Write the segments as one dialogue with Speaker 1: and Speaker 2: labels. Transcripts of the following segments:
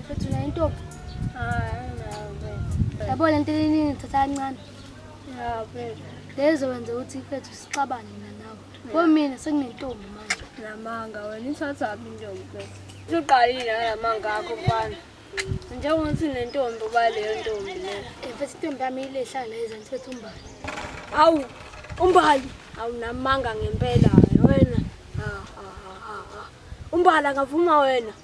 Speaker 1: Mfethu
Speaker 2: nayo intombi. Hayi nayo. Yabo lento eningi thatha kancane. Ya mfethu. Lezo wenze ukuthi mfethu sixabane mina nawe. Komina sekunentombi manje. Namanga wena
Speaker 3: ithatha phi intombi mfethu? Usuqalile namanga akho mfana. Njengokuthi nentombi uba leyo ntombi leyo. Eh, mfethu intombi yami
Speaker 2: ilehlala la ezansi mfethu umbali. Awu
Speaker 3: umbali awunamanga ngempela wena. Ha ha ha ha. Umbali angavuma wena.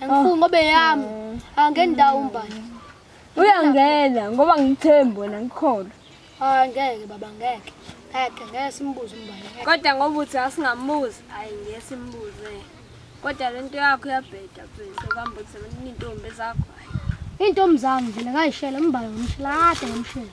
Speaker 2: Angifuni ngoba eyami. Angeni ndawo umbani. Uyangena
Speaker 3: ngoba ngithembi wena ngikholwa. Ah ngeke baba ngeke. Ngeke
Speaker 2: ngeke simbuze umbani. ngeke. Kodwa ngoba uthi
Speaker 3: asingambuzi, ayi ngeke simbuze. Kodwa lento yakho iyabheda mfethu, kambe uthi intombi zakho. Intombi
Speaker 2: zami vele ngayishela umbani ngomshela kade ngomshela.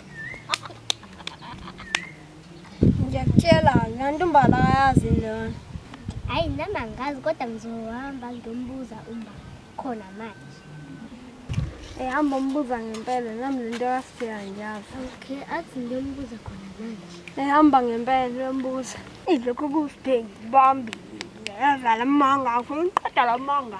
Speaker 3: ngiyakutshela nganti umbala ayazi lona hayi nami
Speaker 2: angazi kodwa ngizohamba ngiyombuza umba khona manje
Speaker 3: ehamba umbuza ngempela nami le nto yasifika ngiyazi okay athi
Speaker 2: ngiyombuza khona manje ehamba ngempela
Speaker 3: uyombuza ilokhu kusibheki bambile yazala amanga akho ngiqeda la manga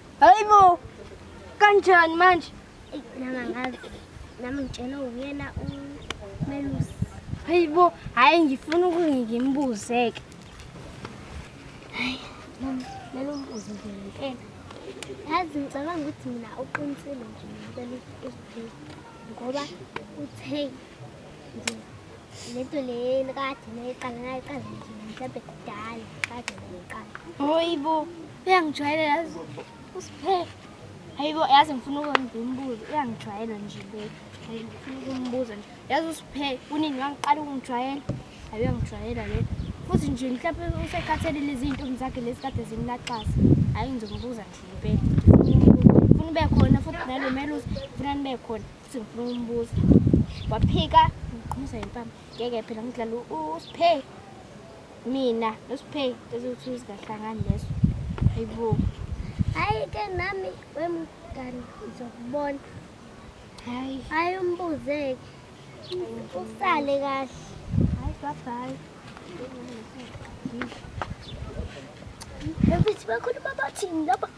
Speaker 2: Hayi bo.
Speaker 3: Kanjani manje? Ey nami ngazi.
Speaker 2: Nami ngitshela uyena umelusi. Hayi bo,
Speaker 3: hayi ngifuna ukungikimbuzeke.
Speaker 2: Hayi, nami lelo mbuzo nje ngempela. Yazi ngicabanga ukuthi mina uqinisile nje ngicela ukuphila ngoba uthe nje lento le kade nayiqala nayiqala nje mhlawumbe kudala kade nayiqala. Hayi bo.
Speaker 3: Uyangijwayela yazi uSiphe. Hayibo yazi ngifuna ukungimbuza. Uyangijwayela nje le. Hayi ngifuna ukumbuza nje. Yazi uSiphe unini wangiqala ukungijwayela. Hayi uyangijwayela le. Futhi nje mhlawumbe usekhathele lezi zintombi zakhe lesikade zimlaxaza. Hayi ngizombuza nje impela. Ngifuna ube khona futhi nalo melusi ngifuna nibe khona futhi ngifuna ukumbuza. Waphika ngiqhumisa impama. Ngeke phela ngidlala uSiphe. Mina noSpay ezothunzi kahlangani leso. Hayibo. Hayi
Speaker 2: ke nami wemngani ngizokubona. Hayi. Hayi umbuzeke. Usale kahle. Hayi bye
Speaker 3: bye.
Speaker 2: Ebithi bakhuluma bathini lapha?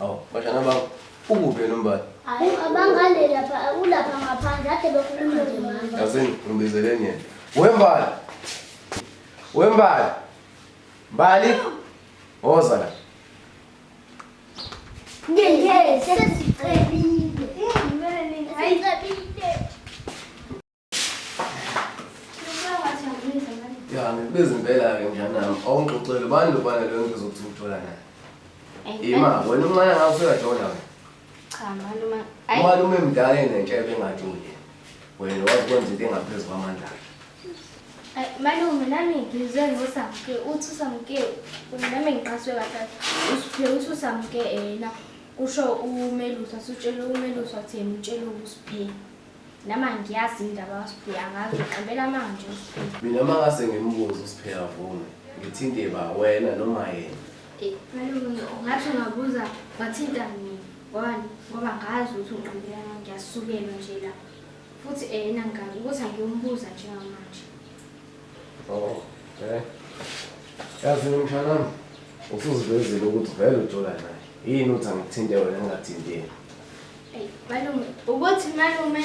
Speaker 4: Awu, bashana bakho. Ukuphi yena umbali? Abangane
Speaker 3: lapha, ulapha ngaphandle, ade bekhuluma nje mama. Yasini, ngimbizeleni
Speaker 4: yena. Wembali. Wembali. Mbali. Woza la.
Speaker 3: Ngeke, sesiqedile. Ngeke, sesiqedile.
Speaker 4: Ya ngikubiza impela-ke mntanami awungixoxele ubani lobana leyo nto zokuthi ngithola naye ima wena umncane ngawo usuyajona wena Cha malume.
Speaker 3: Ayi umalume mdala
Speaker 4: enentsha ebengathi uye wena wazi kwenza into engaphezu kwamandla akhe ayi, malume nami
Speaker 3: ngizwe ngosamke uthi usamke nami ngiqaswe kahle usiphe uthi usamke yena kusho umelusi asutshele umelusi wathi yena utshele ukusiphe. Nama ngiyazi indaba kaSiphiwe angazi ngicambela manje uSiphiwe. Mina mangase
Speaker 4: ngimbuze uSiphiwe avume. Ngithinte ba wena noma yena. Eh, malume
Speaker 3: ngathi ungabuza wathinta mina. Ngoba ngoba ngazi ukuthi unqambela manje ngiyasukelwa nje la. Futhi eyena eh, ngani ukuthi angiyombuza njengamanje.
Speaker 4: Oh, eh. Yazi mshana usuzivezile ukuthi vele ujola naye. Yini uthi angithinte wena ngingathinteki? Eyi,
Speaker 3: malume ukuthi malume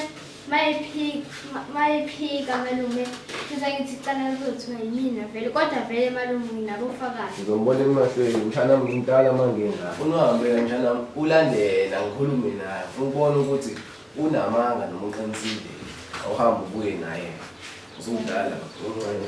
Speaker 3: mayephika ma- mayephika malume futhi angithi cala kuzothiwa yimina vele kodwa vele malume nginabofakazi Ngizombona emahlweni
Speaker 4: mshana ngimtala mangengaka. Ufuna uhambe la mshana wami, ulandela ngikhulume naye. Ufuna ukubona ukuthi unamanga noma uqinisile. Awuhambe ubuye naye. Usumdala, uncane.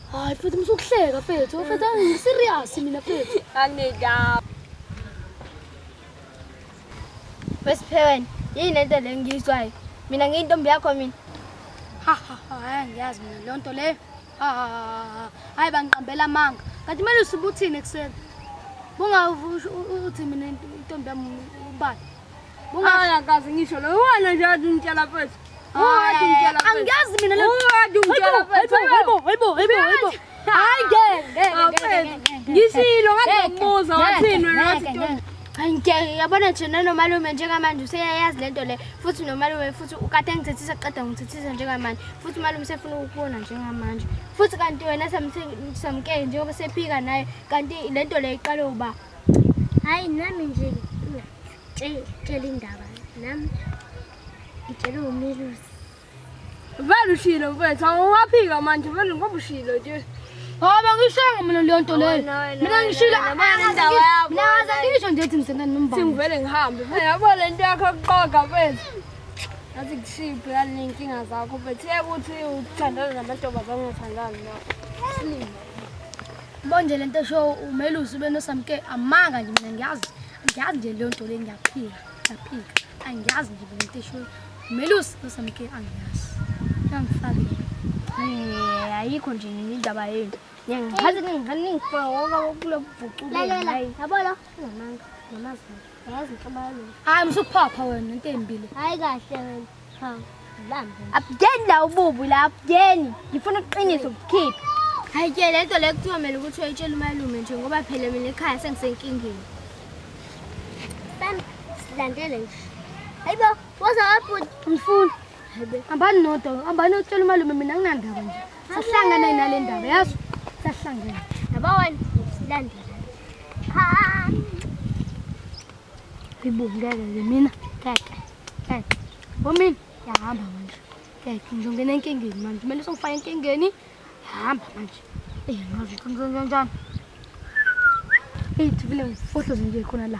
Speaker 2: Hayi mfethu musukuhleka mfethu. Mfethu angi serious mina mfethu. Anginedaba.
Speaker 3: Wesipheweni, yini lento le ngiyizwayo? Mina ngiyintombi yakho mina.
Speaker 2: Ha ha ha, hayi ngiyazi mina leyo nto leyo. Ha ha ha, ha. Hayi bangiqambela amanga. Kanti kumele usubuthini ekuseni. Bunga uthi mina intombi yami ubani? Bungaya kazi ngisho lo wena nje athi ngitshela mfethu. Wathi ngitshela mfethu. Angiyazi mina le. Wathi ngitshela mfethu. Hayibo, hayibo, hayibo, hayibo. Hayi ngeke, ngeke, ngeke. Ngishilo ngazomuza wathini wena wathi ntombi. Hayi ngeke yabona
Speaker 3: nje nanomalume njengamanje useyayazi lento le futhi nomalume futhi ukade ngithethisa qeda ngithethisa njengamanje futhi umalume sefuna ukubona njengamanje futhi kanti wena samkele njengoba sephika naye kanti lento le iqale uba Hayi nami nje ngitshela indaba nami ngitshele umelusi.
Speaker 2: Vele ushilo mfethu awuwaphika manje vele ngoba ushilo nje. Ngoba ngishongo mina leyo nto leyo. Mina ngishilo indawo yakho. Mina ngaze ngisho nje ukuthi ngithanda nombani. Singivele ngihambe. Yabo le nto yakho kuqoga mfethu. Ngathi kushiphi yale nkinga zakho mfethu. Yekuthi uthandana namantombazane ungathandani nawo. Bonje lento show umelusi ube nosamke amanga nje mina ngiyazi ngiyazi nje leyo nto le ngiyaphika ngiyaphika angiyazi nje lento show umelusi nosamke angiyazi yangifaka eh ayikho nje indaba yenu ngiyazi ningifaka ngoba kulobhucu lalela yabo lo ngamanga ngamazulu Yazi mfana. Hayi msuphapha wena into embile. Hayi kahle
Speaker 3: wena. Ha. Abudeni la ububu la abudeni. Ngifuna uqiniso ukukhipha. Hayi ke lento le kuthiwa mina ukuthi uyitshela umalume nje ngoba phela mina ekhaya sengisenkingeni. Bam silandele nje. Hayibo waza wabhuti mfuni. Hayibo. Ambani nodwa, ambani utshela umalume mina nginandaba nje. Sahlangana nale ndaba yazi sahlangana. Yaba wena silandela. Ha. Ibungeke ke mina. Keke. Keke. Bomini yahamba manje. Keke nje ngene enkingeni manje. Kumele songifaka enkingeni. Hamba manje. Eh ngazi kanjani kanjani. Hey, thibile, fohlo zinje khona la.